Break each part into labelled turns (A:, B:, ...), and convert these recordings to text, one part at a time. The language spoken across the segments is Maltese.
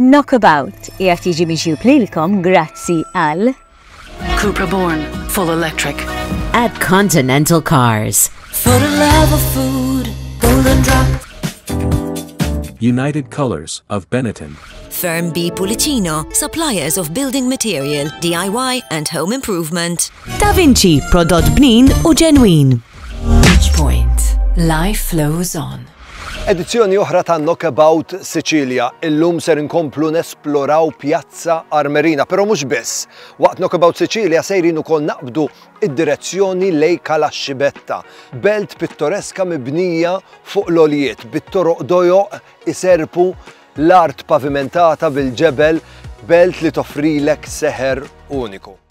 A: Knockabout qiegħed jiġi miġjub lilkom grazzi għal Cupra
B: Born, full electric. At
C: Continental Cars. For the love
D: of food, golden drop. United
E: Colors of Benetton. Firm B
D: Pulicino, suppliers of building material, DIY and home improvement. Da Vinci,
C: prodott bnin u ġenwin.
B: Point. Life flows on. Edizzjoni
F: oħra ta' Knockabout Sicilia. Illum ser inkomplu nesploraw Pjazza Armerina, però mhux biss. Waqt Knockabout Sicilia sejrin ukoll naqbdu id-direzzjoni lej Cala Scibetta, belt pittoreska mibnija fuq l-għoljiet, bit-toroq dojoq iserrpu l-art pavimentata bil-ġebel, belt li toffrilek seħer uniku.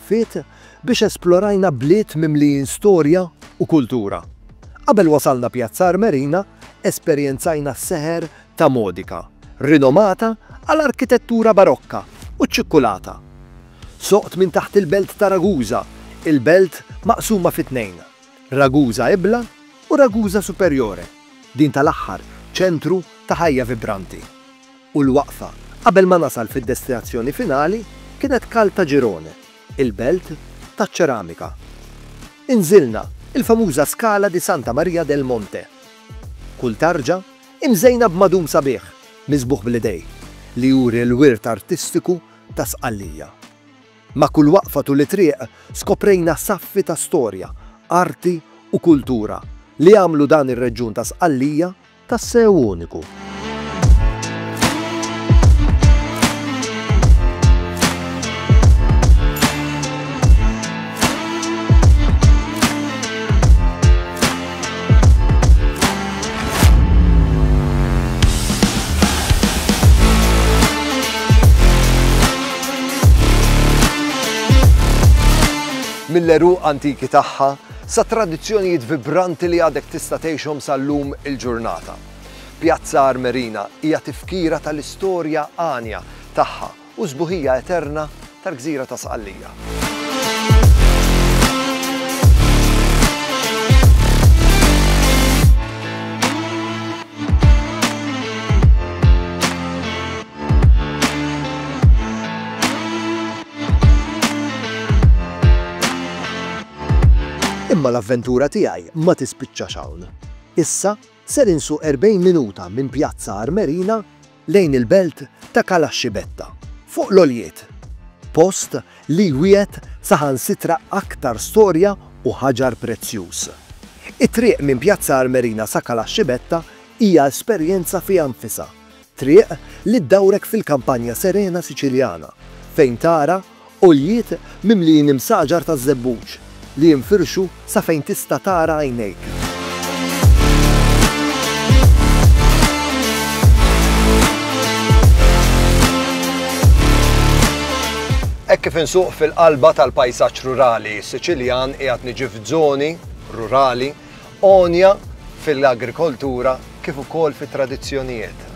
F: Fit, biex esplorajna bliet mimlijin storja u kultura. Qabel wasalna Pjazza Armerina, esperjenzajna s-seħer ta' Modica, rinomata għal arkitettura barokka u ċ-ċikkulata. Soqt minn taħt il-belt ta' Ragusa, il-belt maqsuma fi tnejn, Ragusa Ibla u Ragusa Superiore, din tal-aħħar ċentru ta' ħajja vibranti. u l-waqfa qabel ma nasal fid-destinazzjoni finali kienet Caltagirone, il-belt taċ-ċeramika. Inżilna il-famuża Scala di Santa Maria del Monte. Kull tarġa imżejna b'madum sabiħ miżbugħ bl-idej li juri l-wirt artistiku ta' Sqallija. Ma' kull waqfa tul it-triq skoprejna saffi ta' storja, arti u kultura li għamlu dan ir-reġjun ta' Sqallija Tassew uniku. Mill-għeruq antiki tagħha, sa tradizzjonijiet vibranti li għadek tista' tgħixhom sal-lum il-ġurnata. Pjazza Armerina hija tifkira tal-istorja għanja tagħha u s-sbuħija eterna tal-gżira ta' Sqallija. Imma l-avventura tiegħi ma tispiċċax hawn. Issa ser insuq 40 minuta minn Pjazza Armerina lejn il-belt ta' Calascibetta, fuq l-għoljiet. Post li jwiegħed saħansitra aktar storja u ħaġar prezzjuż. It-triq minn Pjazza Armerina sa Calascibetta hija esperjenza fiha nfisha, Triq li ddawrek fil-kampanja serena Siċiljana fejn tara għoljiet mimlijin imsaġar taż-żebbuġ li jinfirxu sa fejn tista' tara għajnejk. Hekk kif insuq fil-qalba tal-pajsaġġ rurali Siċiljan qiegħed niġi f'żoni rurali għonja fil-agrikoltura kif ukoll fit-tradizzjonijiet.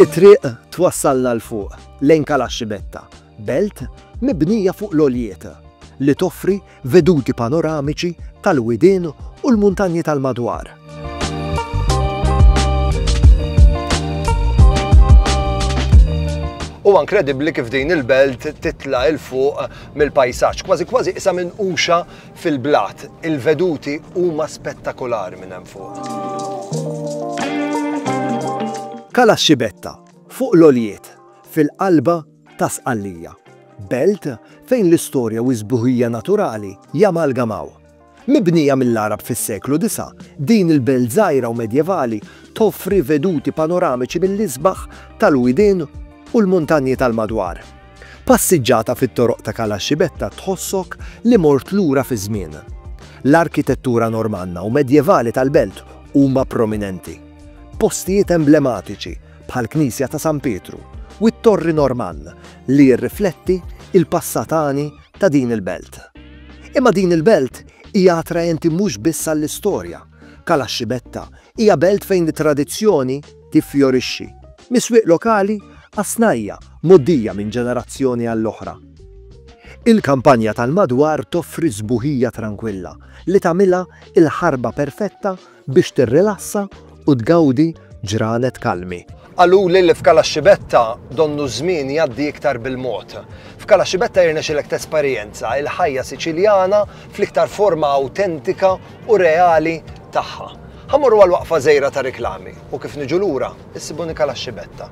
F: It-triq twassalna 'l fuq, lejn Kalaxxi Betta. Belt mibnija fuq l-għoljiet, li toffri veduti panoramiċi tal-widien u l-muntanji tal-madwar. Huwa inkredibbli kif din il-belt titla' il fuq mill-pajsaġġ, kważi kważi isa minn uxa fil-blat. Il-veduti huma spettakolari minn hemm fuq. Kala Xibetta, fuq l-oljiet, fil-qalba ta' Sqallija, belt fejn l-istorja u s-sbuħija naturali jamalgamaw. Mibnija mill-Għarab fis-seklu disa', din il-belt żgħira u medjevali toffri veduti panoramiċi mill-isbaħ tal-widien u l-muntanji tal-madwar. Passiġġata fit-toroq ta' Cala Scibetta tħossok li mort lura fiż-żmien. L-arkitettura Normanna u medjevali tal-belt huma prominenti. Postijiet emblematiċi, bħall-Knisja ta' San Pietru u t-Torri Normann li jirrifletti l-passat għani ta' din il-belt. Imma din il-belt hija attraenti mhux biss għall-istorja. Kalaxxibetta hija belt fejn it-tradizzjoni tiffjorixxi, mis-swieq lokali għas-snajja' mgħoddija minn ġenerazzjoni għall-oħra. Il-kampanja tal-madwar toffri sbuħija trankwilla li tagħmilha l-ħarba perfetta biex tirrilassa u tgawdi ġranet kalmi. Qaluli li f'Cala Xibetta donnu ż-żmien jgħaddi iktar bil-mod. F'Cala Xibetta jirnexilek tesperjenza il-ħajja Siċiljana fl-iktar forma awtentika u reali tagħha. Ħa mmorru għal waqfa żgħira ta' riklami u kif niġu lura issibuni Cala Xibetta.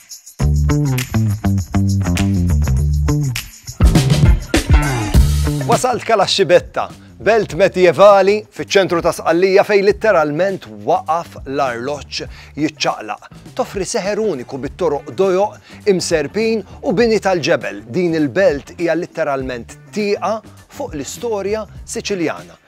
F: Wasalt kala xibetta, belt medjevali fiċ-ċentru ta' Sqallija fej litteralment waqaf l-arloġġ jiċċaqlaq. Toffri seħer uniku bit-toroq dojoq, imserbin u bini tal-ġebel. Din il-belt hija litteralment tieqa fuq l-istorja Siċiljana.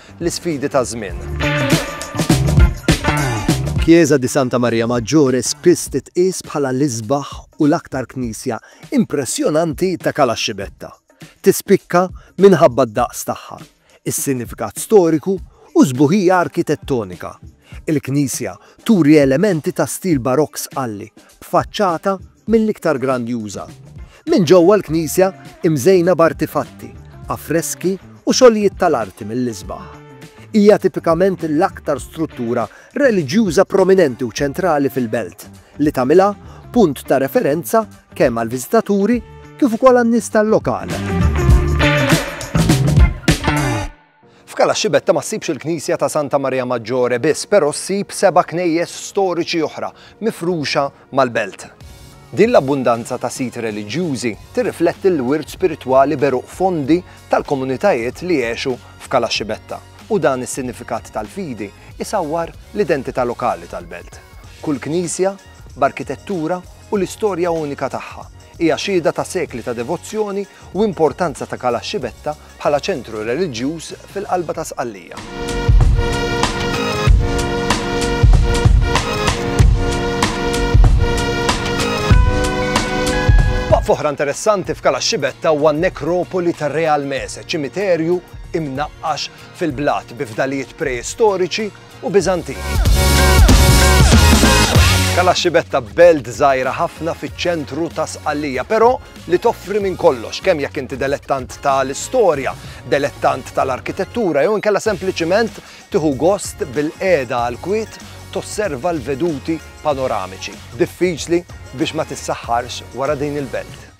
F: l-isfidi taż-żmien. Kjieża di Santa Maria Maggiore spiss titqies bħala l-isbaħ u l-aktar knisja impressjonanti ta' Cala Scibetta. Tispikka minħabba d-daqs tagħha, is-sinifikat storiku u s-sbuħija arkitettonika. Il-knisja turi elementi ta' stil Barokk sqalli b'faċċata mill-iktar grandjuża. Minn ġewwa l-knisja imżejna b'artifatti, affreski u xogħlijiet tal-arti mill-isbaħ. Hija tipikament l-aktar struttura reliġjuża prominenti u ċentrali fil-belt, li tagħmilha punt ta' referenza kemm għall-viżitaturi kif ukoll għan-nies tal-lokal. F'Cala Xibetta ma ssibx il-knisja ta' Santa Maria Maggiore biss, però ssib seba' knejjes storiċi oħra mifruxa mal-belt. Din l-abbundanza ta' siti reliġjużi tirrifletti l-wirt spiritwali b'għeruq fondi tal-komunitajiet li għexu f'Cala Xibetta u dan is-sinifikat tal-fidi jsawwar l-identità lokali tal-belt. Kull knisja, b'arkitettura u l-istorja unika tagħha, hija xhieda ta' sekli ta' devozzjoni u importanza ta' Cala Xibetta bħala ċentru reliġjuż fil-qalba ta' Sqallija. Waqfa oħra interessanti f'Cala Xibetta huwa n-nekropoli tar-Re Almese, ċimiterju imnaqqax fil-blat bi fdalijiet preistoriċi u Biżantini. Kalaxxibetta belt żgħira ħafna fiċ-ċentru ta' Sqallija, però li toffri minn kollox, kemm jekk inti delettant tal-istorja, delettant tal-arkitettura jew inkella sempliċiment tieħu gost bil-qiegħda għal kwiet tosserva l-veduti panoramiċi. Diffiċli biex ma tissaħħarx wara din il-belt.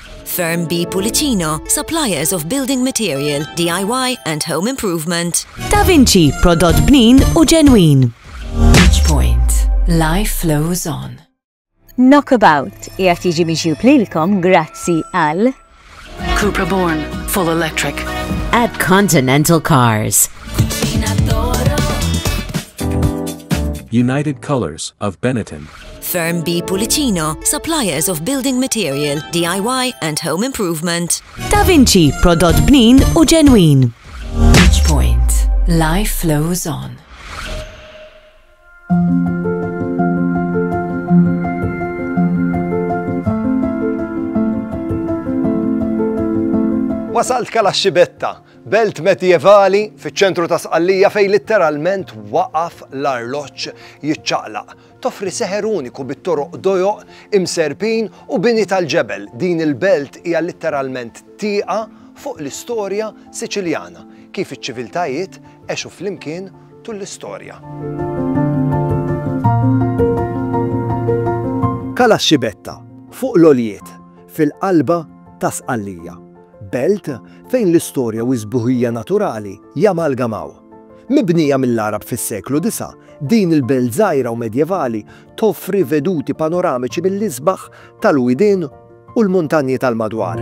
E: Firm B
D: Pulicino, suppliers of building material, DIY and home improvement. Da Vinci,
C: prodott bnin u ġenwin. Each point,
B: life flows on. Knockabout
A: jgħat jiġi miġjub lilkom
B: grazzi
A: għal Cupra
B: Born,
A: full
B: electric.
C: At Continental Cars.
E: United Colors of Benetton. Firm B
D: Pulicino, suppliers of building material, DIY and home improvement. Da Vinci,
C: prodott bnin u ġenwin. Each point,
B: life flows on.
F: Wasalt kala xibetta, belt medjevali fiċ-ċentru ta' Sqallija fej litteralment waqaf l-arloġġ jiċċaqlaq Toffri seħer uniku bit-toroq dojoq, imserrpin u bini tal-ġebel, din il-belt hija litteralment tieqa fuq l-istorja Siċiljana, kif iċ-ċiviltajiet għexu flimkien tul l-istorja. Cala Xibetta, fuq l-għoljiet, fil-qalba ta' Sqallija, belt fejn l-istorja u s-sbuħija naturali jamalgamaw. Mibnija mill-Għarab fis-seklu disgħa, din il-belt żgħira u medjevali toffri veduti panoramiċi mill-isbaħ tal-widien u l-muntanji tal-madwar.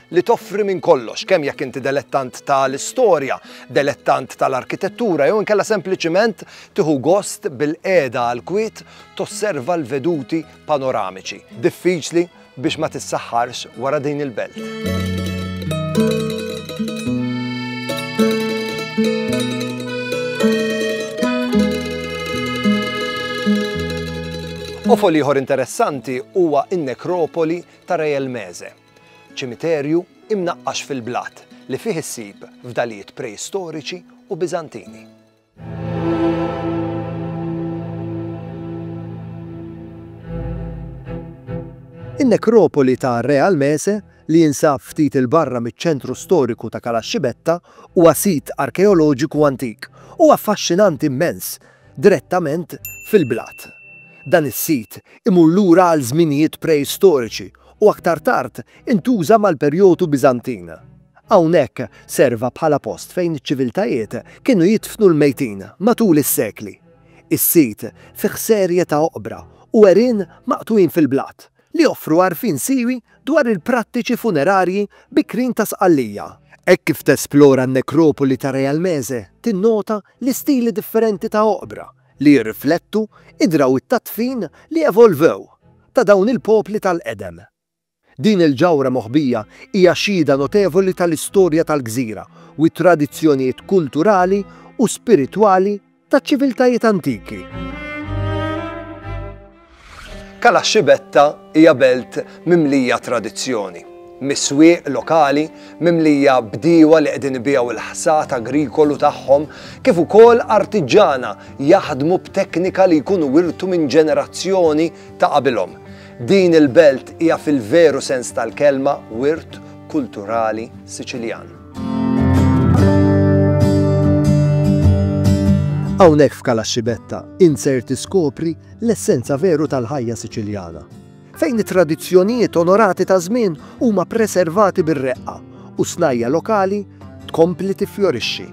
F: li toffri minn kollox, kemm jekk inti delettant ta' l-istorja, delettant ta' l-arkitettura jew inkella sempliċiment tieħu gost bil-qiegħda għall-kwiet tosserva l-veduti panoramiċi, diffiċli biex ma tissaħħarx wara din il-belt. Qofol ieħor interessanti huwa n-nekropoli ta' Rejelmeze. Ċimiterju imnaqqax fil-blat li fih issib fdalijiet preistoriċi u Biżantini. In-nekropoli ta' Re Almese, li jinsab ftit 'il barra miċ-ċentru storiku ta' Calascibetta, huwa sit arkeoloġiku antik u affaxxinanti mmens direttament fil-blat. Dan is-sit imur lura għal żminijiet preistoriċi u aktar tard intuża mal-perjodu Biżantin. Hawnhekk serva bħala post fejn iċ-ċiviltajiet kienu jidfnu l-mejtin matul is-sekli. Is-sit fih serje ta' oqbra u għerien maqtugħin fil-blat li joffru għarfien siewi dwar il-prattiċi funerarji bikrin ta' Sqallija. Hekk kif tesplora n-nekropoli ta' Realmese tinnota l-istili differenti ta' oqbra li jirriflettu d-drawwiet tad-dfin li evolvew ta' dawn il-popli tal-qedem. Din il-ġawhra moħbija hija xhieda notevoli tal-istorja tal-gżira u t-tradizzjonijiet kulturali u spiritwali taċ-ċiviltajiet antiki. Cala Xibetta hija belt mimlija tradizzjoni, mis-swieq lokali mimlija bdiewa li qegħdin ibigħu il-ħsad agrikolu tagħhom kif ukoll artiġġana jaħdmu b'teknika li jkunu wirtu minn ġenerazzjoni ta' qabilhom. Din il-belt hija fil-veru sens tal-kelma wirt kulturali Siċiljan. Hawnhekk f'Cala Xibetta insert tiskopri l-essenza veru tal-ħajja Siċiljana, fejn it-tradizzjonijiet onorati taż-żmien huma preservati bir-reqqa u s-snajja' lokali tkompli tiffjorixxi.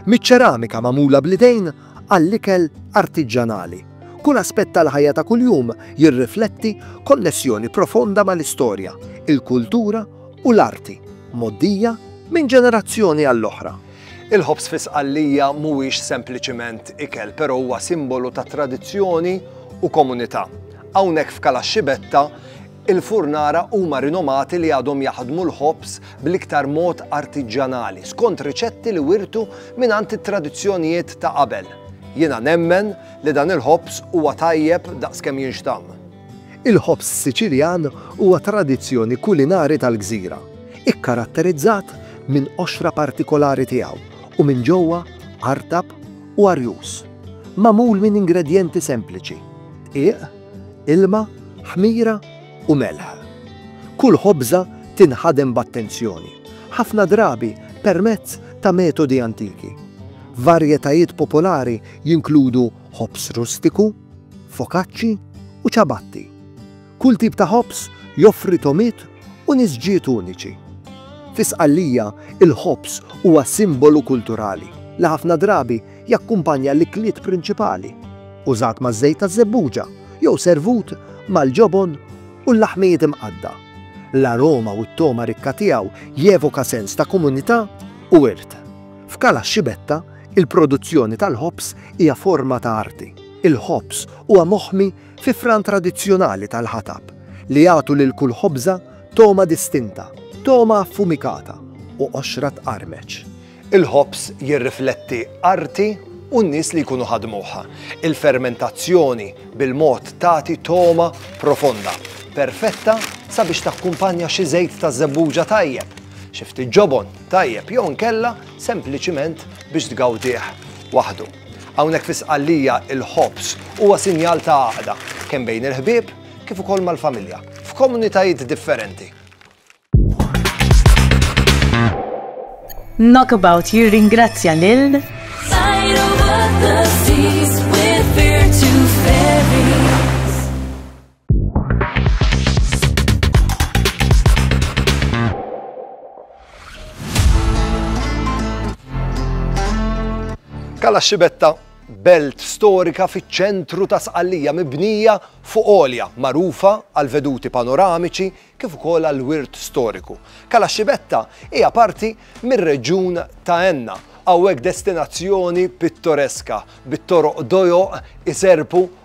F: Miċ-ċeramika magħmula bl-idejn għall-ikel artiġġanali, kull aspett tal-ħajja ta' kuljum jirrifletti konnessjoni profonda mal-istorja, il-kultura u l-arti, mgħoddija minn ġenerazzjoni għall-oħra. Il-ħobż fi Sqallija mhuwiex sempliċiment ikel, però huwa simbolu ta' tradizzjoni u komunità. Hawnhekk f'Kalaxxibetta, il-furnara huma rinomati li għadhom jaħdmu l-ħobż bl-iktar mod artiġġanali, skont riċetti li wirtu mingħand it-tradizzjonijiet ta' qabel. Jiena nemmen li dan il-ħobż huwa tajjeb daqs kemm jinxtamm. Il-ħobż Siċiljan huwa tradizzjoni kulinari tal-gżira, ikkaratterizzat minn qoxra partikolari tiegħu u minn ġewwa artab u arjuż. Magħmul minn ingredjenti sempliċi, dqiq, ilma, ħmira u melħ. Kull ħobża tinħadem b'attenzjoni, ħafna drabi permezz ta' metodi antiki. Varjetajiet popolari jinkludu ħobż rustiku, fokaċċi u ċabatti. Kull tip ta' ħobż joffri togħmiet u nisġiet uniċi. Fi Sqallija, il-ħobż huwa simbolu kulturali li ħafna drabi jakkumpanja l-ikliet prinċipali, użat maż-żejt taż-żebbuġa jew servut mal-ġobon u l-laħmijiet imqaddgħa. L-aroma u t-togħma rikka tiegħu jevoka sens ta' komunità u wirt. F'Cala Xibetta, Il-produzzjoni tal-ħobż hija forma ta' arti. Il-ħobż huwa moħmi fi fran tradizzjonali tal-ħatab li jagħtu lil kull ħobża togħma distinta, togħma affumikata u qoxra tqarmeċ. Il-ħobż jirrifletti arti u n-nies li jkunu ħadmuh. Il-fermentazzjoni bil-mod tagħti togħma profonda, perfetta sabiex takkumpanja xi żejt ta' żebbuġa tajjeb, xi ftit ġobon tajjeb jew inkella sempliċiment biex tgawdih waħdu. Hawnhekk fi Sqallija il-ħobż huwa sinjal ta' għaqda kemm bejn il-ħbieb kif ukoll mal-familja f'komunitajiet differenti.
A: Knockabout jirringrazzja lil
F: Kalla Xibetta belt storika fiċ-ċentru ta' Sqallija mibnija fuq olja, magħrufa għal veduti panoramiċi kif ukoll għal wirt storiku. Kala Xibetta hija parti mir-reġjun ta' Enna, hawnhekk destinazzjoni pittoreska bit-toroq dojo iserpu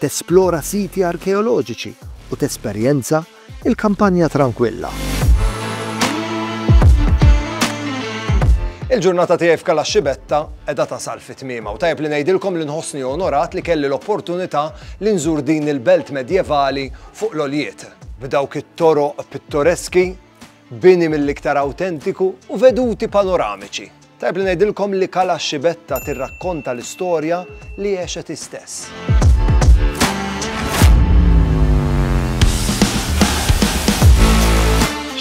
F: tesplora siti arkeoloġiċi u tesperjenza l-kampanja trankwilla. Il-ġurnata tiegħi f'Calascibetta qiegħda tasal fi tmiemha u tajjeb li ngħidilkom li nħossni onorat li kelli l-opportunità li nżur din il-belt medjevali fuq l-għoljiet, b'dawk it-toroq pittoreski Bini mill-iktar awtentiku u veduti panoramiċi. Tajjeb li ngħidilkom li Cala Xibetta tirrakkonta l-istorja li għexet hi stess.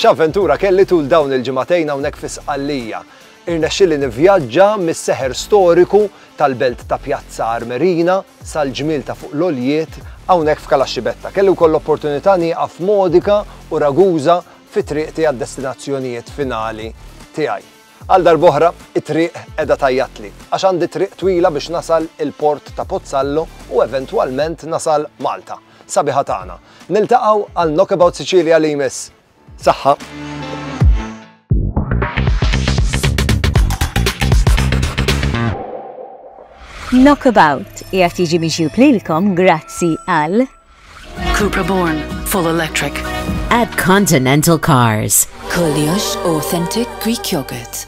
F: X'avventura kelli tul dawn il-ġimagħtejn hawnhekk fi Sqallija. Irnexxieli nivvjaġġa mis-seħer storiku tal-belt ta' Piazza Armerina sal-ġmiel ta' fuq l-għoljiet hawnhekk f'Calas Civetta. Kelli wkoll l-opportunità nieqaf Modica u Ragusa fi triqti għad-destinazzjonijiet finali tiegħi. Għal darb'oħra, it-triq qiegħda tgħajjatli, għax għandi triq twila biex nasal il-port ta' Pozzallo u eventwalment nasal Malta, sabiħa tagħna. Niltaqgħu għal Knockabout Sicilia li jmiss! Saħħa. Knockabout
A: qiegħed jiġi miġjub lilkom grazzi għal Cupra
B: Born Full Electric at
C: Continental Cars. Koljox
B: Authentic Greek Yogurt.